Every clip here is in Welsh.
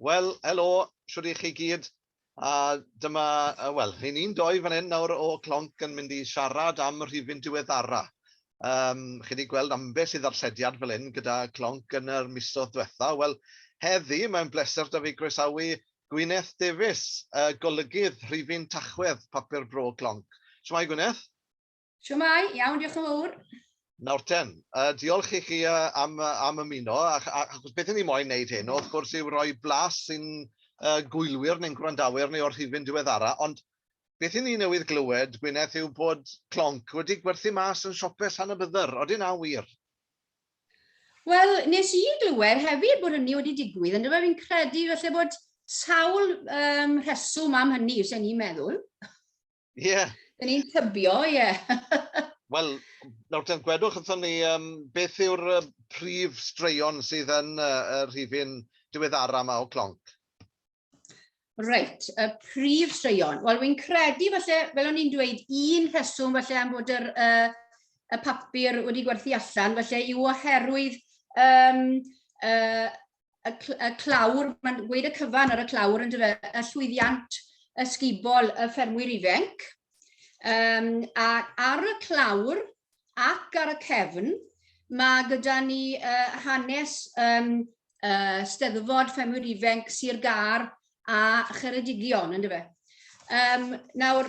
Wel, helo, shwt i chi gyd. A dyma, wel, hyn un doi fan hyn nawr o Clonc yn mynd i siarad am y rhifyn diweddara. Um, chi wedi gweld ambell i ddarllediad fel hyn gyda Clonc yn yr misodd diwetha. Wel, heddi mae'n bleser da fi groesawu Gwyneth Davies, y golygydd rhifyn Tachwedd Papur Bro Clonc. Shwmae Gwyneth? Siwmai, iawn, diolch yn fawr. Nawr ten, uh, diolch i chi uh, am, uh, am ymuno, achos beth ni'n moyn wneud hyn, wrth gwrs yw roi blas sy'n uh, gwylwyr neu'n gwrandawyr neu o'r rhifyn diweddara, ond beth i ni newydd glywed, Gwyneth, yw bod clonc wedi gwerthu mas yn siopau San y Byddyr. Oeddi na wir? Wel, nes i glywed hefyd bod hynny wedi digwydd, ond dyma fi'n credu felly bod sawl um, rheswm am hynny, os ni'n meddwl. Ie. Yeah. Dyn ni'n tybio, ie. Yeah. Wel, nawr ten gwedwch wrthyn ni, um, beth yw'r uh, prif straeon sydd yn uh, y rhifyn diweddara yma o clonc? Reit, y prif straeon. Wel, wy'n credu falle, fel o'n i'n dweud, un rheswm falle am bod yr, uh, y papur wedi gwerthu allan, falle yw oherwydd um, uh, y, cl y clawr, mae'n gweud y cyfan ar y clawr yn dyfa, y llwyddiant ysgubol y ffermwyr ifanc. Um, a ar y clawr ac ar y cefn, mae gyda ni uh, hanes um, uh, steddfod ffermwyr ifanc Sir Gar a Cheredigion, yn dyfa. Um, nawr,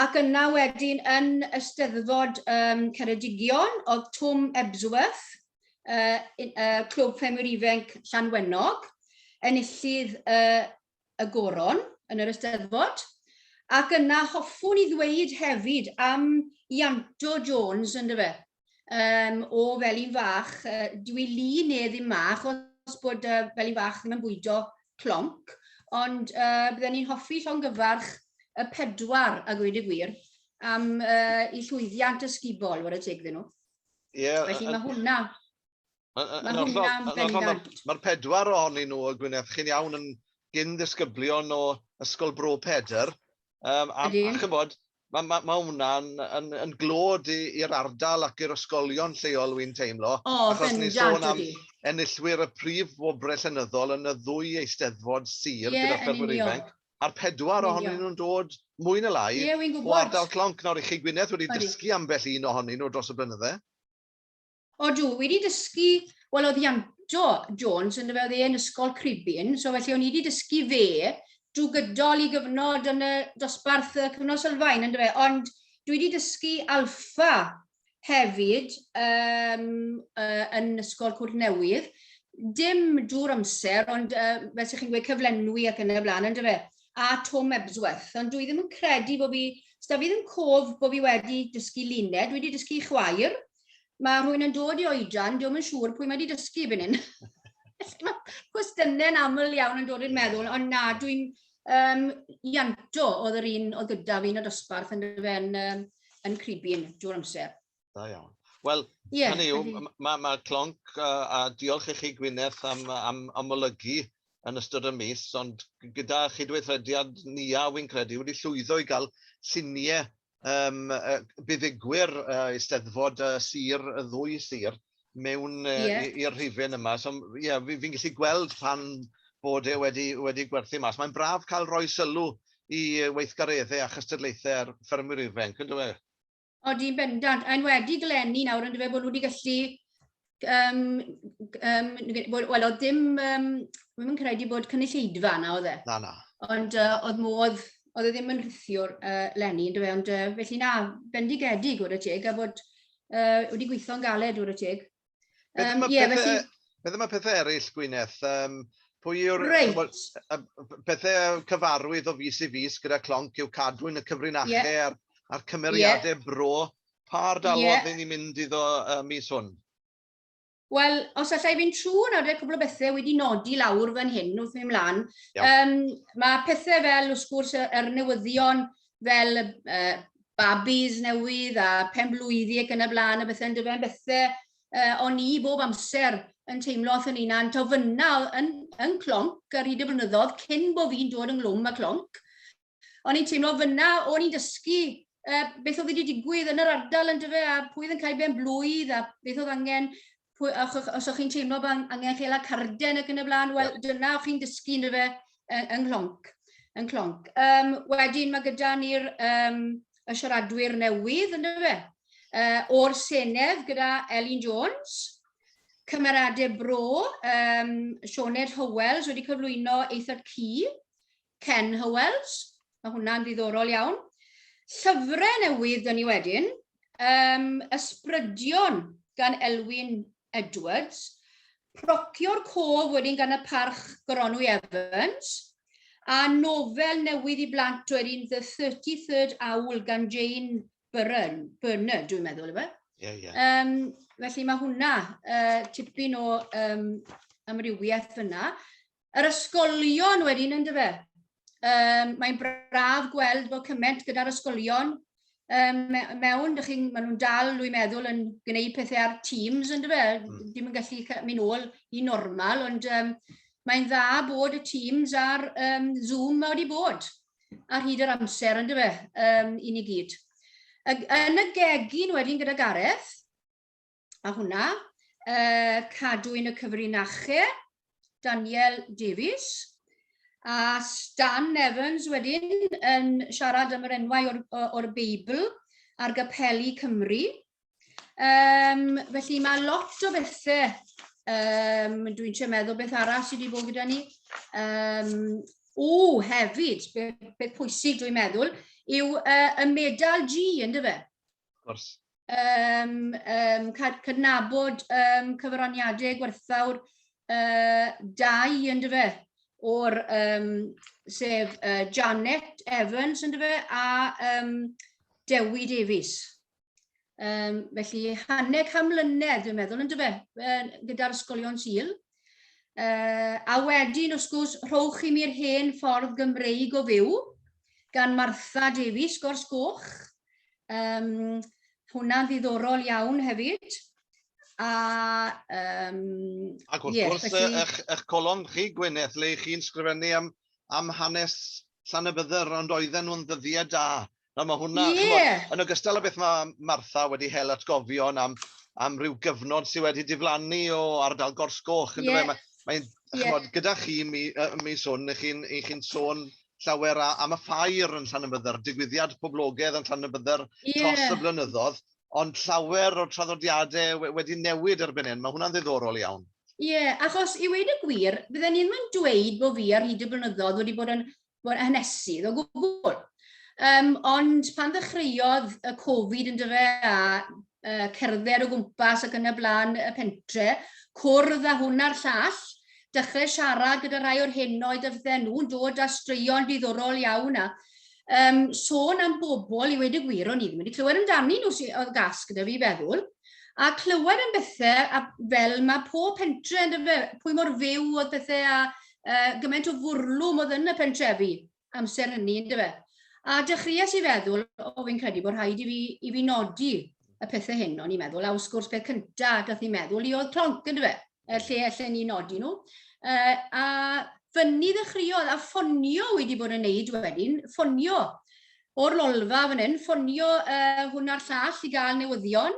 ac yna wedyn yn Ysteddfod um, Ceredigion, oedd Twm Ebsworth, uh, uh, Clwb Ffermwyr Ifenc Llanwenog, enillydd uh, y goron yn yr Ysteddfod. Ac yna hoffwn i ddweud hefyd am Ianto Jones, ynddo fe, um, o fel un fach, uh, dwi li ne ddim ma, achos bod uh, fel un fach ddim yn bwydo clonc, ond uh, byddwn ni'n hoffi llongyfarch y pedwar a gweud y gwir am uh, i llwyddiant ysgubol, wrth y teg ddyn nhw. Yeah, Felly mae hwnna... Mae'r pedwar ohonyn nhw o Gwynedd, chi'n iawn yn gyn ddisgyblion o Ysgol Bro Pedr. Um, a, a chymod, ma' ma' ma' hwnna'n yn yn glod i i'r ardal ac i'r ysgolion lleol wi'n teimlo... O bendant ydi. ...achos ni'n sôn am enillwyr y prif wobre llenyddol yn y ddwy Eisteddfod Sir... Ie yn union. ...gyda ffermwyr ifanc a'r pedwar ohonyn nhw'n dod mwy ne lai... Ie wi'n gwbod. ...o ardal Clonc nawr i chi Gwyneth wedi dysgu ambell un ohonyn nhw dros y blynydde. O dw, wedi dysgu, wel oedd Ianto Jones yn dyfa oedd e'n ysgol Cribyn, so felly o'n i wedi dysgu fe drwy gydol i gyfnod yn y dosbarth y cyfnod sylfaen yn dyfa, ond dwi wedi dysgu alfa hefyd um, uh, yn ysgol Cwrt Newydd, dim drwy'r amser, ond uh, fel sy'ch chi'n gweud cyflenwi ac yn y blaen, yn dyfa, a Tom Ebsworth, ond dwi ddim yn credu bod fi, sda fi ddim cof bod fi wedi dysgu luned, dwi wedi dysgu chwaer, Mae rhywun yn dod i oedran, diolch yn siŵr pwy mae wedi dysgu i fynnyn. Cwestiynau'n aml iawn yn dod i'r meddwl, ond na, dwi'n um, ianto oedd yr un oedd gyda fi yn y dosbarth yn, yn, um, yn cribyn drwy'r amser. Da iawn. Wel, yeah, hynny yw, mae ma, ma Clonc, a, a diolch i chi Gwyneth am, am amlygu yn ystod y mis, ond gyda chydweithrediad ni a wy'n credu wedi llwyddo i gael lluniau yym buddugwyr Eisteddfod Sir y ddwy sir mewn i'r rhifyn yma, so ie fi'n gallu gweld pan bod e wedi wedi gwerthu mas. Mae'n braf cael rhoi sylw i weithgareddau a chystadlaethau ar ffermwyr ifanc, yn dyw e? Odi, yn bendant, a enwedig eleni nawr yn dyw e bod nhw wedi gallu um, um, wel, oedd dim, um, ddim yn credu bod cynulleidfa yna, oedd e? Na, na. Ond uh, oedd modd, oedd e ddim yn rhithiwr uh, lenni, yn dweud, ond uh, felly na, bendigedig o'r y teg, a bod uh, wedi gweithio'n galed o'r y teg. Um, ie, felly... Beth yma pethau eraill, Gwyneth? Um, pwy yw'r pethau cyfarwydd o fus i fus gyda clonc yw cadwyn y cyfrinachau yeah. a'r, a'r cymeriadau yeah. bro Pa ardal oedd hyn ni'n mynd iddo y mis hwn? Wel, os allai fi'n trwy nawr, dweud cwbl o bethau wedi nodi lawr fan hyn wrth mynd mlaen. Um, mae pethau fel, wrth gwrs, yr newyddion fel uh, babis newydd a pen blwyddi ac yn y blaen a bethau'n dyfe'n bethau uh, o'n i bob amser yn teimlo wrth yn unan, to fyna yn, yn clonc ar hyd y blynyddoedd cyn bod fi'n dod ynglwm y clonc, o'n i'n teimlo fyna, o'n i'n dysgu uh, beth oedd wedi digwydd yn yr ardal yn dyfe, a pwy oedd yn cael ben blwydd, a beth oedd angen, pwy, a ch, os o'ch chi'n teimlo bod angen chael a carden ac yn y blaen, wel, dyna o'ch chi'n dysgu yn dyfe yng Nghlonc. Yn Clonc. Um, wedyn mae gyda ni'r um, y siaradwyr newydd yn dyfe, uh, o'r Senedd gyda Elin Jones, cymeradau bro, um, Sioned Howells wedi cyflwyno Eithaf Cy, Ken Hywells, mae hwnna'n ddiddorol iawn. Llyfrau newydd dyn ni wedyn, um, Ysbrydion gan Elwyn Edwards, Procio'r Cof wedyn gan y parch Goronwy Evans, a nofel newydd i blant oedd un The 33rd Owl gan Jane Byrne, Byrne dwi'n meddwl, efe? Ie, ie. Um, felly mae hwnna uh, tipyn o um, amrywiaeth fyna. Yr ysgolion wedyn, yn dyfe? Um, mae'n braf gweld bod cymaint gyda'r ysgolion um, mewn, dych chi'n, maen nhw'n dal, dwi'n meddwl, yn gwneud pethau ar Teams, yn dyfe? Mm. Ddim yn gallu mynd ôl i normal, ond um, mae'n dda bod y Teams a'r um, Zoom mae wedi bod ar hyd yr amser, yn dyfe, um, i ni gyd. Yn y gegin wedyn gyda Gareth, a hwnna, uh, cadw yn y cyfrinachau, Daniel Davies, a Stan Evans wedyn yn siarad am yr enwau o'r, or Beibl ar gypelu Cymru. Um, felly mae lot o bethau, um, dwi'n siarad meddwl beth arall sydd wedi bod gyda ni. Um, o, hefyd, beth, beth pwysig dwi'n meddwl, yw uh, y medal G, ynddo fe? Of course. um, um, cydnabod um, cyfraniadau gwerthfawr uh, dau yn dyfa o'r um, sef uh, Janet Evans yn dyfa a um, Dewi Davies. Um, felly hanner cam mlynedd dwi'n meddwl yn dyfa uh, gyda'r ysgolion syl. Uh, a wedyn, wrth gwrs, rhowch i mi'r hen ffordd Gymreig o fyw, gan Martha Davies, Gors Goch, Um, hwnna'n ddiddorol iawn hefyd. A, um, Ac wrth yes, gwrs, felly... eich, eich colon chi, Gwyneth, le chi'n sgrifennu am, am hanes Llan y Bydder, ond oedden nhw'n ddyddiau da. Na, mae hwnna, yeah. chymod, yn ogystal â beth mae Martha wedi hel atgofion am, am ryw gyfnod sydd wedi diflannu o ardal Gorsgoch. Yeah. Mae'n, mae yeah. gyda chi mi, mi swn, chi'n chi sôn llawer a, am y ffair yn Llanymydder, digwyddiad poblogaidd yn Llanymydder yeah. dros y blynyddoedd, ond llawer o'r traddodiadau wedi newid erbyn hyn. Mae hwnna'n ddiddorol iawn. Ie, yeah, achos i wedi gwir, bydden ni'n mynd dweud bod fi ar hyd y blynyddoedd wedi bod yn, bod yn hanesydd o gwbl. Um, ond pan ddechreuodd y Covid yn dyfe a uh, cerdded o gwmpas ac yn y blaen y pentre, cwrdd â hwn a'r llall, dechrau siarad gyda rhai o'r hyn oedd y fydden nhw'n dod â straeon diddorol iawn a um, sôn am bobl i wedi gwir o'n i ddim wedi clywed amdani nhw sydd oedd gas gyda fi feddwl a clywed am bethau a fel mae pob pentre yn dyfe, pwy mor fyw oedd bethau a uh, gymaint o fwrlwm oedd yn y pentrefi. amser hynny, yn dyfe? A dechreuais i feddwl, o fi'n credu bod rhaid i fi, i fi nodi y pethau hyn, o'n i'n meddwl, a wrth gwrs beth cyntaf a gath i meddwl i oedd clonc, yn dyfe? Er lle allan ni nodi nhw. Uh, a fyny ddechreuodd a ffonio wedi bod yn neud wedyn, ffonio o'r lolfa fan hyn, ffonio uh, hwn a'r llall i gael newyddion,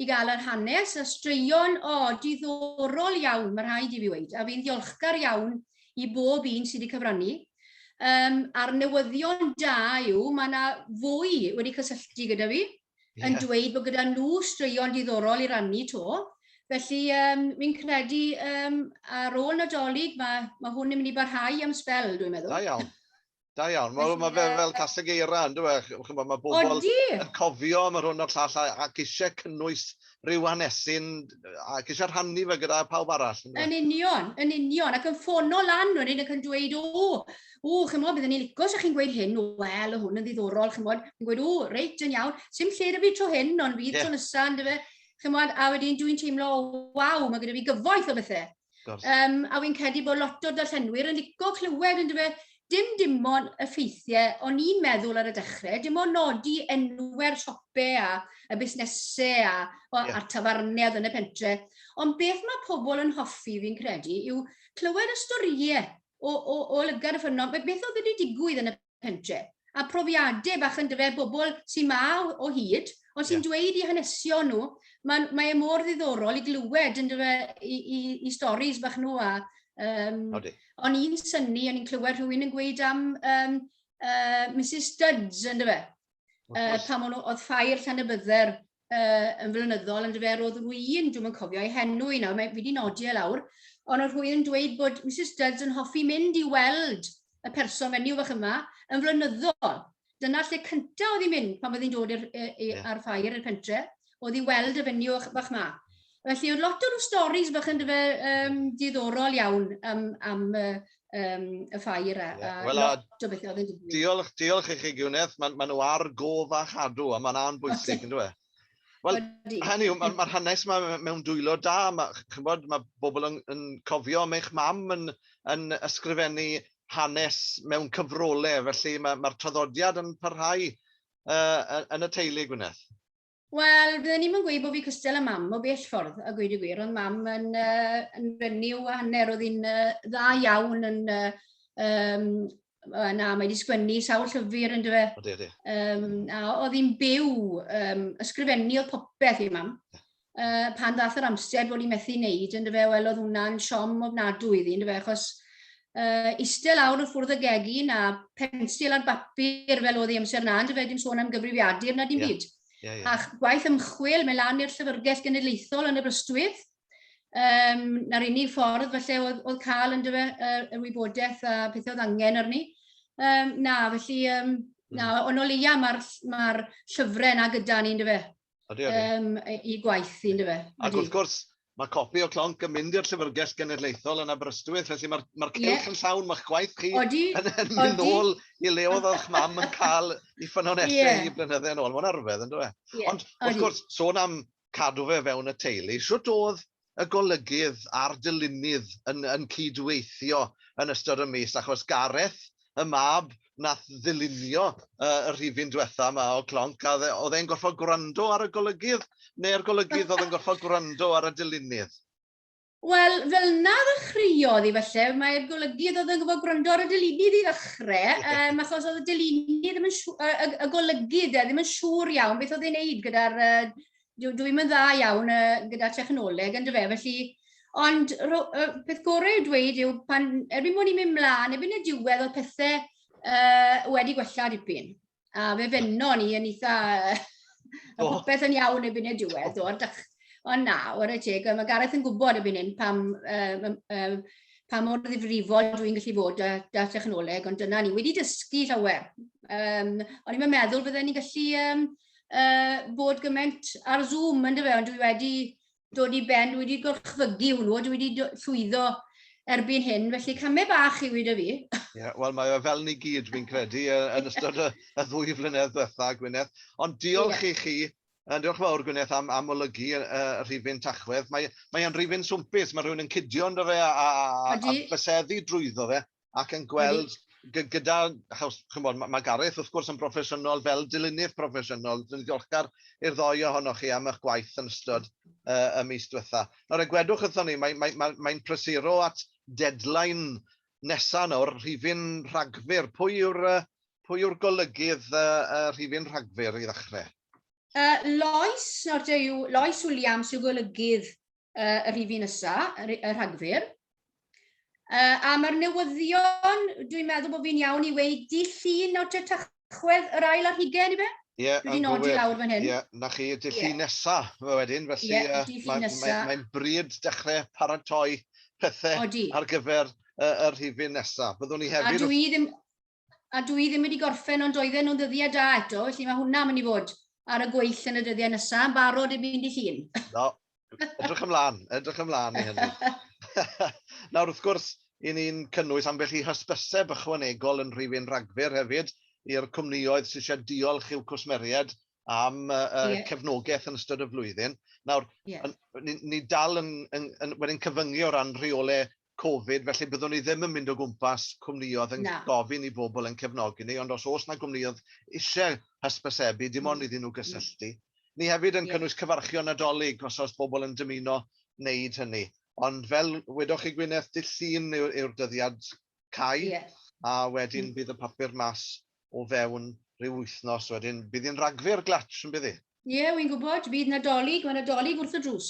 i gael yr hanes a straeon, o, diddorol iawn, mae rhaid i fi weid, a fi'n ddiolchgar iawn i bob un sydd wedi cyfrannu. Um, a'r newyddion da yw, mae yna fwy wedi cysylltu gyda fi, yeah. yn dweud bod gyda nhw straeon diddorol i rannu to. Felly, um, fi'n credu um, ar ôl nadolig, mae, mae hwn yn mynd i barhau am sbel, dwi'n meddwl. Da iawn. Da iawn. Mae ma fe fel caseg eira, yn dwi e? Chymod, mae bobl Odi. yn cofio am yr hwn o'r llall a- ac eisiau cynnwys rhyw hanesyn ac eisiau rhannu fe gyda pawb arall. Yn Yn union, yn union, ac yn ffono lan wedyn ac yn dweud, o, o, chymod, byddwn ni'n licio sa'ch chi'n gweud hyn, wel, o hwn yn ddiddorol, chymod, yn gweud, o, reit, yn iawn, sy'n lle da fi tro hyn, ond fydd yeah. tro nesaf, yn dyfe, chymod, a wedyn dwi'n teimlo, waw, mae gyda fi gyfoeth o bethau. Um, a fi'n credu bod lot o darllenwyr yn licio clywed yn dyfa, dim dim ond y ffeithiau o'n i'n meddwl ar y dechrau, dim ond nodi enwau'r siope a y busnesau a, o, yeah. a'r tafarniad yn y pentre. Ond beth mae pobl yn hoffi fi'n credu yw clywed y storïau o, o, o lygad y ffynnon, beth oedd wedi digwydd yn y pentre, a profiadau bach yn dyfe bobl sy'n ma o hyd, ond sy'n yeah. dweud i hanesio nhw, mae, mae e mor ddiddorol i glywed yn dyfe i, i, i storys bach nhw a um, o'n i'n syni, o'n i'n clywed rhywun yn gweud am um, uh, Mrs Studs yn dyfe, uh, pan o'n nhw oedd ffair llan y bydder uh, yn flynyddol, yn dyfer oedd rwy'n, dwi'n cofio ei henw i nawr, mae wedi nodi e lawr, ond oedd rwy'n dweud bod Mrs Dudds yn hoffi mynd i weld y person fenyw fach yma yn flynyddol. Dyna lle cyntaf oedd hi'n mynd pan oedd hi'n dod i'r, i, i, yeah. ar ffair i'r pentre, oedd i weld y fenyw fach yma. Felly, oedd lot o'r storys bach yn dyfa um, diddorol iawn am, am uh, um, y ffair a, yeah. well, lot o bethau oedd yn digwydd. Diolch, diolch i chi Gwyneth, maen ma nhw ar gof a chadw a mae'n a'n bwysig yn dweud. Wel, hynny yw, mae'r ma hanes yma mewn dwylo da. Mae, chybod, mae bobl yn, yn cofio am eich mam yn, yn ysgrifennu hanes mewn cyfrolau, felly mae'r ma traddodiad yn parhau uh, yn y teulu, Gwyneth. Wel, fydden ni'm yn gweud bod fi cystal â mam o bell ffordd, a gweud y gwir, ond mam yn, uh, yn renyw a hanner, oedd hi'n uh, dda iawn yn uh, um, uh, na, mae wedi sgwennu sawl llyfr yn dyfa. Odi, odi. Um, a oedd hi'n byw, um, ysgrifennu oedd popeth i mam. Uh, pan ddath yr amser bod hi'n methu wneud yn dyfa, wel oedd hwnna'n siom ofnadwy iddi yn dyfa, achos uh, eistedd lawr y ffwrdd y gegin a pensil ar bapur fel oedd ei amser na, ond fe dim sôn am gyfrifiadur na dim yeah. byd. Yeah, yeah. Ac gwaith ymchwil, mae lan i'r llyfrgell genedlaethol yn y brystwydd, um, na'r unig ffordd felly oedd, oedd cael yn dyfa uh, y wybodaeth a pethau oedd angen arni. Um, na, felly, um, na, hmm. ond o leia mae'r ma llyfrau yna gyda ni'n dyfa. Ydy, ydy. Um, I gwaith i, ynddo Ac wrth gwrs, mae copi o clonc yn mynd i'r Llyfrgell Genedlaethol yn Aberystwyth, felly mae'r ma cylch yeah. yn llawn, mae'ch gwaith chi odi, yn, yn mynd ôl i le oedd o'ch mam yn cael i ffynonellau yeah. i blynyddau yn ôl. Mae'n arfedd, yn dweud. Yeah. Ond, wrth odi. gwrs, sôn am cadw fe fewn y teulu, sut oedd y golygydd a'r dylunydd yn yn cyd-weithio yn ystod y mis, achos Gareth, y mab nath ddylunio y y rhifyn dwetha 'ma o Clonc, a o'dd e'n gorffod gwrando ar y golygydd, ne'r golygydd o'dd yn gorffod gwrando ar y dylunydd? Wel, fel 'na ddechreuodd hi falle, mae'r golygydd o'dd yn gorfod gwrando ar y dylunydd i ddechre, yym achos o'dd y dylunydd ddim yn siw- y y y golygydd 'de, ddim yn siŵr iawn beth o'dd e'n neud gyda'r yy dwi, dwi yn dda iawn uh, gyda technoleg yn dyfe, felly Ond ro, uh, peth gorau i'w dweud yw pan erbyn mwyn i'n mynd mlaen, erbyn y diwedd oedd pethau uh, wedi gwella dipyn. A fe fenno ni yn eitha... a oh. popeth yn iawn erbyn y diwedd o'r dach... Ond na, o'r ei teg, mae Gareth yn gwybod erbyn hyn pam, uh, uh, pa mor ddifrifol dwi'n gallu fod da, da technoleg, ond dyna ni wedi dysgu llawer. Um, ond i'n meddwl fydden ni'n gallu um, uh, bod gymaint ar Zoom, yn dyfa, ond dwi wedi dod i ben, dwi wedi gorchfygu hwnnw, dwi wedi llwyddo erbyn hyn, felly camau bach i wyd o fi. yeah, Wel, mae o fel ni gyd, fi'n credu, yn ystod y, y ddwy flynedd ddiwetha, Gwyneth. Ond diolch yeah. i chi, yn diolch fawr Gwyneth am, am olygu y, y rhifyn tachwedd. Mae, mae o'n rhifyn swmpus, mae rhywun yn cydio ynddo fe a, a, a, a byseddu drwyddo fe. ac yn gweld gyda, chymod, mae Gareth wrth gwrs yn broffesiynol fel dilynydd proffesiynol, dwi'n ddiolchgar i'r ddoi ohonoch chi am eich gwaith yn ystod uh, y mis diwetha. Nawr, egwedwch wrthon ni, mae'n mae, mae, mae prysuro at deadline nesaf nawr, rhifin rhagfyr. Pwy yw'r uh, pwy yw'r golygydd uh, uh, rhifin rhagfyr i ddechrau? Uh, Lois, nawr yw Lois Williams yw golygydd uh, y rhif un ysa, y rhagfyr. Uh, a mae'r newyddion, dwi'n meddwl bod fi'n iawn i weid, di llun o Tachwedd yr ail ar hugen i fe? Ie, yeah, yn gywir. lawr fan hyn. Ie, yeah, na chi, y dillun yeah. nesa fe wedyn, felly yeah, uh, mae'n ma, ma, ma bryd dechrau paratoi pethau Odi. ar gyfer uh, y rhifyn nesa. Byddwn ni hefyd... A dwi ddim... a dwi ddim wedi gorffen ond oedden nhw'n ddyddiau da eto, felly mae hwnna mynd i fod ar y gweill yn y dyddiau nesaf, yn barod i fynd i llun. No, edrych ymlaen, edrych ymlaen i hynny. Nawr, wrth gwrs, i ni'n cynnwys ambell i hysbyseb ychwanegol yn rhifyn rhagfyr hefyd i'r cwmnioedd sydd eisiau diolch i'w cwsmeriaid am uh, yeah. cefnogaeth yn ystod y flwyddyn. Nawr, yeah. ni, ni dal yn, yn, yn, yn cyfyngu o ran rheolau Covid, felly byddwn i ddim yn mynd o gwmpas cwmnïoedd yn gofyn i bobl ein cefnogi ni, ond os oes 'na gwmnïoedd eisiau hysbysebu, dim ond iddyn nhw gysylltu. Ni hefyd yn cynnwys cyfarchion Nadolig os oes pobl yn dymuno wneud hynny. Ond fel wedoch chi Gwyneth, dydd Llun yw'r dyddiad cau, a wedyn bydd y papur mas o fewn rhyw wythnos wedyn. Bydd hi'n Ragfyr glatsh, yn bydd hi? Ie, wi'n gwybod, bydd Nadolig, mae Nadolig wrth y drws.